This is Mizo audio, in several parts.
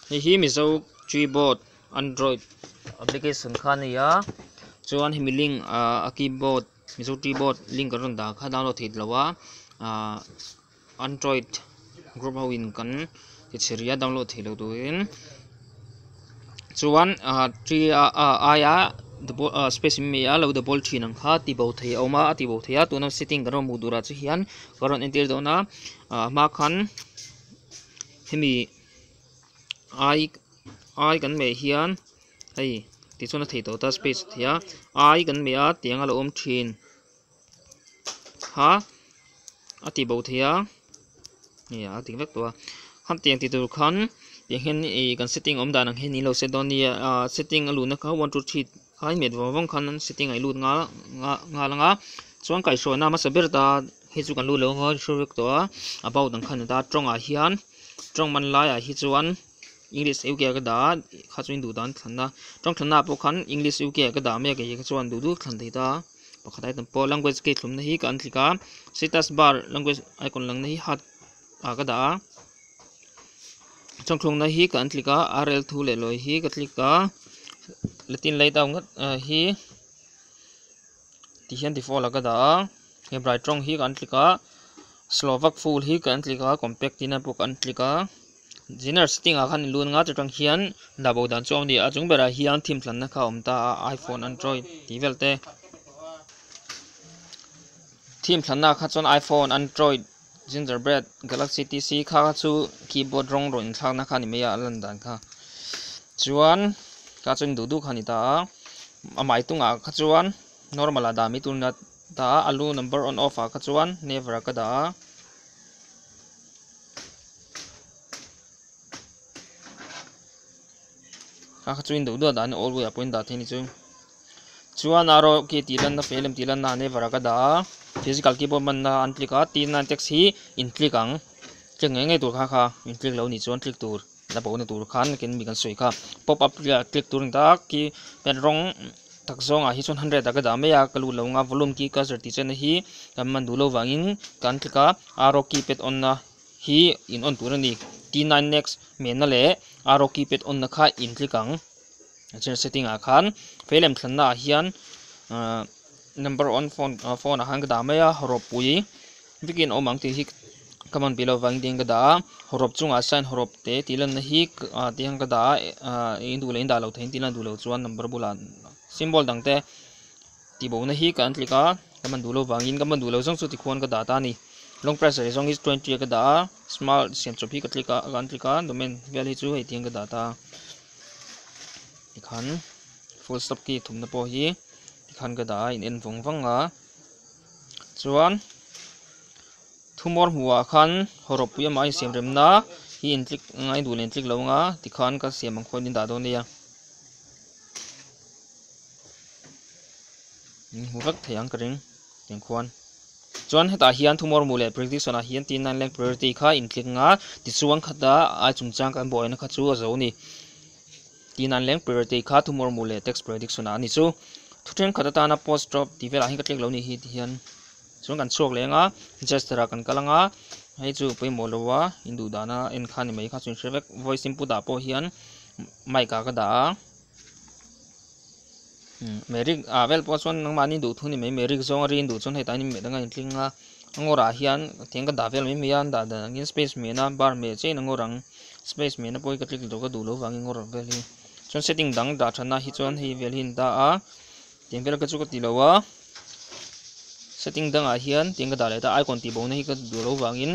hei hi mizo keyboard android application kha a nia chuan hemi link ah a keyboard mizo keyboard link kan rawn dan kha download theih loh a ah android group ho in kan-- Ti chhiria download thei lo turin chuan a ṭi a aia space in mei a lo de bawl ṭhin ang kha ti bo thei a awm a a ti bo thei a tuna setting kan rawn hmuh tur ah te hian kan rawn entir dawn a ah hma khan hemi ai ai kan meh hian hei tichuan a thei tawh ta space a thei a ai kan meh a tiang a lo awm ṭhin. ha a ti bo thei a nia a ding vek tawh a han tiang ti tur khan tiang hian ih kan setting awm dan ang hian niin lo set dawn a nia ahh setting a luh na kha one two three a innet vawng vawng khan setting a inlut nghal nghal ang a chuan kaihhruaina hmasa ber ta hi chu kan lut leh vawng a hre vek tawh a about ang khan a ni ta tawng ah hian tawng man lai ah hi chuan english uk ah ka dah a kha chu in duh dan thlanna tawng thlanna ah pawh khan english uk ah ka dah mek a ih kha chu an duh duh thlan thei ta. pakhat a haitan pawh language gate hlawmna hi ka han click a status bar language icon lang na hi hard ah ka dah a chhawng thlawkna hi ka han click a rl thu leh lawi hi ka click a latin lay down ngat ah hi tih hian default ah ka dah a hebrides tawng hi ka han click a slovak full hi ka han click a compact ina pawh ka han click a. Zinner setting ah khan inluan nga te tang hian dahbo dan chu a awm a ni. A chung berah hian thim tlanna kha a awm ta a, iPhone, Android tih vel te. Thim tlanna kha chuan iPhone, Android, Gingerbread, Galaxy tih si kha chu keyboard rawng rawn inthlakna kha a ni mai a, a lan dan kha. Chuan kha chuan duh duh kha a ni ta a. A hmai tung ah kha chuan normal ah dah mai tur a ni ta a, a lu number on off ah kha chuan never ah ka dah a. a kha chu in duh duah dan a always a pawhin dah theih a ni chu chuan a rawh khi tih lanna fe lem tih lanna ah never a ka dah a physical keyboard manna an click a t nine text hi in click ang click ngei ngei tur kha kha in click lo ni chu an click tur. La bo na tur khan nakin mi kan sawi kha pop up leh click tur ni tak khi pen rawng tak zawng ah hi chuan hundred ah ka dah mai a ka lut lo ang a volume khi ka zir tih chan a hi kan man duh lo vang in kan click a arrow key pet on na hi in on tur a ni t nine next hmel na leh arrow key pet on na kha in click ang a then setting ah khan veilam thlan na ah hian ah number on phone ah phone ah khan ka dah mai a ropui. Vicky in awm ang tih hi ka man pi lo vangin tiang ka dah a, hawrhawp chungah sign hawrhawp te tih lanna hi tiang ka dah a, i induh leh indah lo thei in tih lanna duh lo chuan number bulah symbol dang te ti bo na hi ka han click a, ka man duh lo vangin ka man duh lo zawng chu tikhuan ka dah ta a ni. Long press rei zawng hi chu twenty a ka dah a, smart siam chawp hi ka click a, ka han click a, domain vel hi chu hei tiang ka dah ta a, tikhan full stop key thumna pawh hi tikhan ka dah a, in en vawng vang a. Chuan thumawr hmuhah khan haw ropui amah in siam remna hi in tlik anga i duh leh in tlik lo anga tikhan ka siam ang khawiin in dah dawn nia. Min hmu vek thei ang ka ring tiang khuan. Chuan hetah hian thumawr hmuh leh prediction ah hian T9 leng priority kha in tlik anga tichuan khata ai chungchang kan bawih na kha chu a zo a ni. Tih nan leng priority kha tumor mu leh tax prediction ah a ni chu. Thu thenkhat atana post drop tih velah hi ka tlek lo ni hi tihian chuan kan chhuak leng a, Jester ah kan kal anga hei chu pawimawh lo a in duh dana en kha ni mai kha chu in hre vek, voice input ah pawh hian mic ah ka dah a. Merrick a vel pawh chuan nangmah ni duh thu ni mai Merrick zawnga ri an duh chuan hei ta hian medanga in tling a ngawrah hian tiang ka dah vel mai mai a dah dan angin space mehna bar meh cheina ngawr ang space mehna pawh hi ka tlik tawh ka duh lo vangin ngawr vel hi chuan setting dang dah thana hi chuan hei vel hi in dah a tiang vel ka chu ka ti lo a setting dangah hian tiang ka dah leh ta icon tih bawmna hi ka duh lo vangin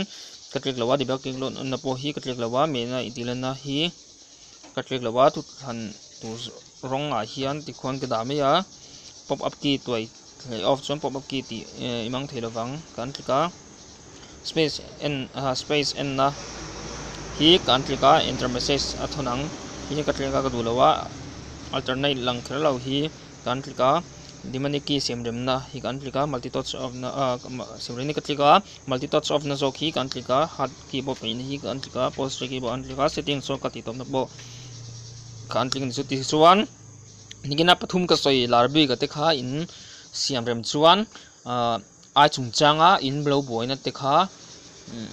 ka tlik lo a debug tih na pawh hi ka tlik lo a mehna intihhlanna hi Ka tlek lo a, thuthlan tur rawngah hian tikhuan ka dah mai a, pop up key tuai hlei off chuan pop up key tih i mang thei lovang ka an tlik a, space en aha space enna hi ka an tlik a, enter message a thawn ang hi hi ka tlek a ka duh lo a, alternate lang kher lo hi ka an tlik a, dimani key siam remna hi ka an tlik a, multi touch off na ah siam reng na ka tlik a, multi touch off na zawk hi ka an tlik a, Keyboard peihna hi ka en tlik a, pause ṭe keyboard a en tlik a, setting sawn ka tihtawpna pawh ka en tlik a ni chu tih chuan nihna pathum ka sawi lar bik te kha in siam rem chuan ah ai chung changa in lo buaina te kha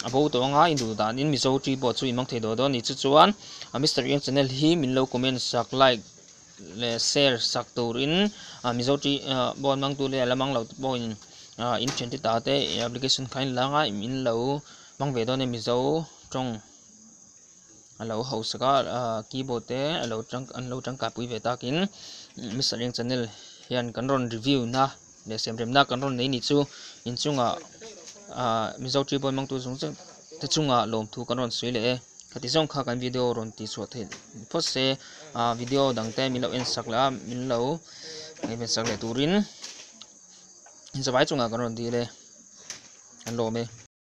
a bo tawh anga in duh dan in Mizo ṭi pawh chu in hmang thei duai dawn a ni chu chuan Mister Eng channel hi min lo comment sak like leh share sak turin Mizo ṭi bo an hmangtu leh a la hmang lo te pawhin in ṭhen te ta te application kha in la nga im in lo hmang ve dawn e Mizo ṭawng a lo haw sak a keyboard te a lo an lo ṭangkai pui ve takin Mister Eng channel hian kan rawn review na leh siam rem na kan rawn nei ni chu inchungah Mizo ṭi bo an hmangtu zung zek-- te chungah lawmthu kan rawn sawi leh e ka ti zawng kha kan video rawn ti chhuah theih phawt se a video dang te min lo en sak leh a min lo ei ve sak leh turin zawai chungah kan rawn dil e kan lawm e.